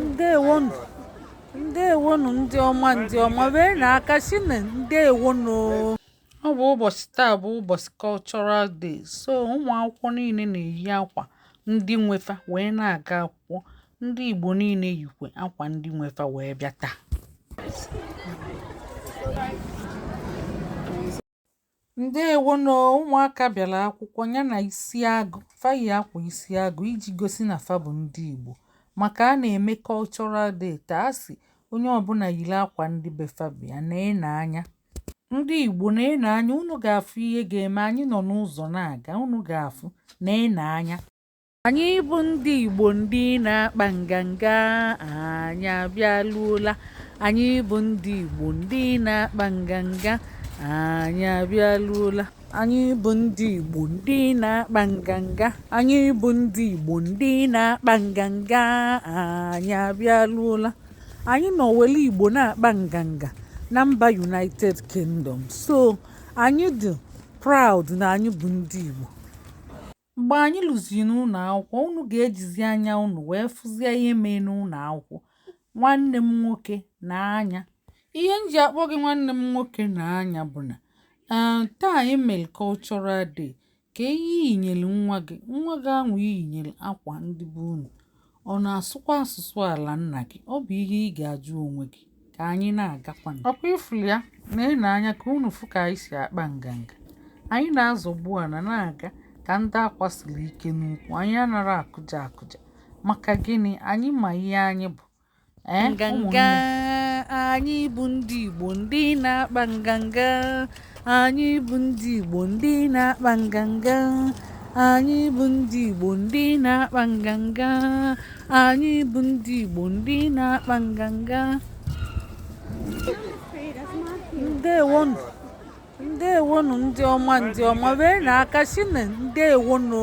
ndewonu ndewonu ndị ọma ndị ọma wee na aka si na ndewonu ọ bụ ụbọchị taa bụ ụbọchị cultural day so ụmụ akwụkwọ niile na-eyi akwa ndị nwe fa wee na-aga akwụkwọ ndị igbo niile yikwe akwa ndị nwe fa wee bịa taa ndewonu ụmụaka bịara akwụkwọ ya na isi agụ fa yi akwa isi agụ iji gosi na fa bụ ndị igbo maka a na-eme cultural day taa a sị onye ọbụla yiri akwa ndị be fa bịa na-ene anya ndị igbo na-ene anya unu ga-afụ ihe ga-eme anyị nọ n'ụzọ na-aga unu ga-afụ na-ene anya anyị bụ ndị Igbo ndị na-akpa nganga anyị abịaluola anyị bụ ndị Igbo ndị na-akpa nganga anyị abịaluola anyị bụ ndị Igbo ndị na-akpa nganga anyị bụ ndị Igbo ndị na-akpa nganga anyị abịaluola anyị nọ wele Igbo na-akpa nganga na mba United Kingdom so anyị dị proud na anyị bụ ndị Igbo Mgbe anyị luziri n'ụnọ akwụkwọ, unu ga-ejizi anya unu wee fụzie ihe mee n'ụnọ akwụkwọ. Nwanne m nwoke na nwaanyị. Ihe m ji akpọ gị nwanne m nwoke na nwaanyị bụ na eh, taa anyị mere cultural day. Kee ihe i yinyere nwa gị, nwa gị ahụ i yinyere akwa ndị be unu. Ọ na-asụkwa asụsụ ala nna gị? Ọ bụ ihe ị ga-ajụ onwe gị. Ka anyị na-agakwanụ. Ọkwa ị fụrụ ya na-ene anya ka unu fụ ka anyị si akpa nganga. Anyị na-azọgbu ana na-aga ka ndị akwa siri ike n'ukwu. Anyị anara akụja akụja. Maka gịnị? Anyị ma ihe anyị bụ. Eh, nganga anyị bụ ndị igbo ndị na-akpa nganga anyị bụ ndị igbo ndị na-akpa nganga anyị bụ ndị igbo ndị na-akpa nganga anyị bụ ndị igbo ndị na-akpa nganga ndewonu ndewonu ndị ọma ndị ọma wee na aka si na ndewonu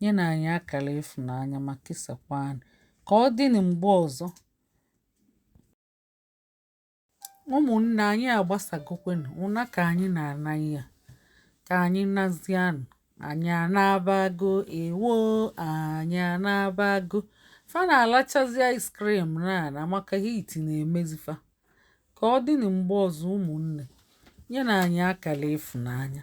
Nyenụ anyị akara ịfụnanya ma kesakwaanụ. Ka ọ dịnụ mgbe ọzọ. Ụmụnne anyị agbasagokwenụ ụna ka anyị na-ana ya. Ka anyị nazianụ. Anyị anabago ewo anyị anabago. Fa na-alachazi ice cream na na maka heat na-emezi fa. Ka ọ dịnụ mgbe ọzọ ụmụnne. Nyenụ anyị akara ịfụnanya.